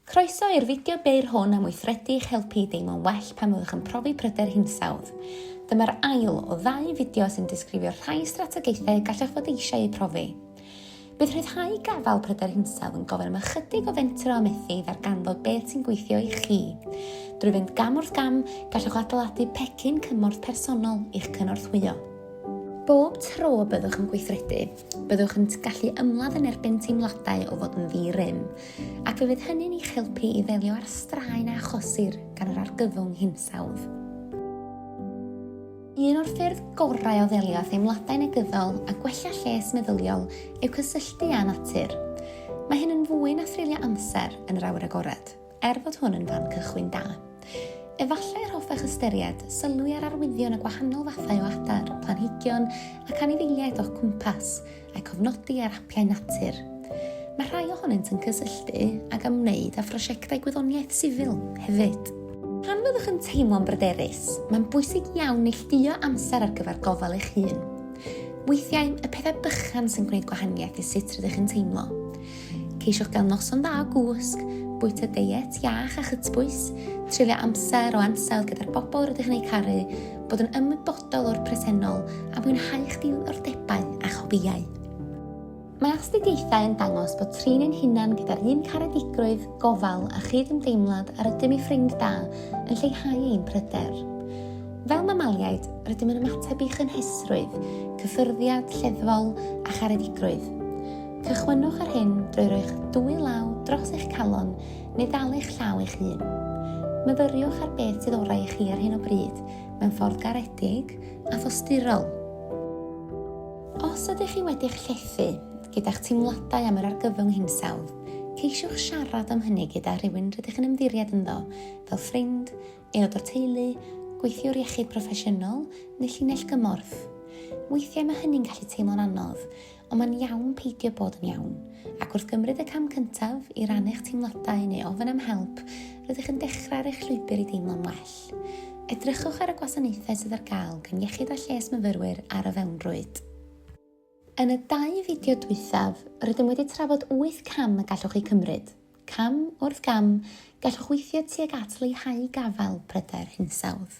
Croeso i'r fideo byr hwn am weithredu i'ch helpu i deimlo'n well pan fyddwch yn profi pryder hinsawdd. Dyma'r ail o ddau fideo sy'n disgrifio'r rhai strategaethau gallwch fod eisiau eu profi. Bydd rhyddhau gafael pryder hinsawdd yn gofyn am ychydig o fentro a methu i ddarganfod beth sy'n gweithio i chi. Drwy fynd gam wrth gam, gallwch adeiladu pecyn cymorth personol i'ch cynorthwyo. Bob tro byddwch yn gweithredu, byddwch yn gallu ymladd yn erbyn teimladau o fod yn ddi-rym, ac y bydd hynny'n eich helpu i ddelio â'r straen a achosir gan yr argyfwng hinsawdd. Un o'r ffyrdd gorau o ddelio â theimladau negyddol a gwella lles meddyliol yw cysylltu â natur. Mae hyn yn fwy na threulio amser yn yr awyr agored, er fod hwn yn fan cychwyn da. Efallai yr hoffech ystyried sylwi ar arwyddion y gwahanol fathau o adar, planhigion ac anifeiliaid o'ch cwmpas, a cofnodi ar apiau natur. Mae rhai ohonynt yn cysylltu ag ymwneud â phrosiectau gwyddoniaeth sifil hefyd. Pan fyddwch yn teimlo'n bryderus, mae'n bwysig iawn neillduo amser ar gyfer gofal eich hun. Weithiau, y pethau bychan sy'n gwneud gwahaniaeth i sut rydych yn teimlo. Ceisiwch gael noson dda o gwsg, bwyta deiet iach a chytbwys, treulio amser o ansawdd gyda'r bobl rydych yn eu caru, bod yn ymwybodol o'r presennol a mwynhau'ch diddordebau a'ch hobïau. Mae astudiaethau yn dangos bod trin ein hunan gyda'r un caredigrwydd, gofal a chyd-ymdeimlad a rydym i ffrind da yn lleihau ein pryder. Fel mamaliaid, rydym yn ymateb i chynhesrwydd, cyffyrddiad, lleddfol a charedigrwydd. Cychwynnwch ar hyn drwy roi'ch dwy law dros eich calon neu ddal eich llaw eich hun. Myfyriwch ar beth sydd orau i chi ar hyn o bryd mewn ffordd garedig a thosturol. Os ydych chi wedi'ch llethu gyda'ch teimladau am yr argyfwng hinsawdd, ceisiwch siarad am hynny gyda rhywun rydych yn ymddiried ynddo, fel ffrind, aelod o'r teulu, gweithiwr iechyd proffesiynol neu llinell gymorth. Weithiau mae hynny'n gallu teimlo'n anodd, Ond mae'n iawn peidio bod yn iawn, ac wrth gymryd y cam cyntaf i rannu'ch teimladau neu ofyn am help, rydych yn dechrau ar eich llwybr i deimlo'n well. Edrychwch ar y gwasanaethau sydd ar gael gan Iechyd a Lles Myfyrwyr ar y fewnrwyd. Yn y dau fideo dwythaf, rydym wedi trafod 8 cam y gallwch eu cymryd. Cam wrth gam, gallwch weithio tuag at leihau gafael pryder hinsawdd.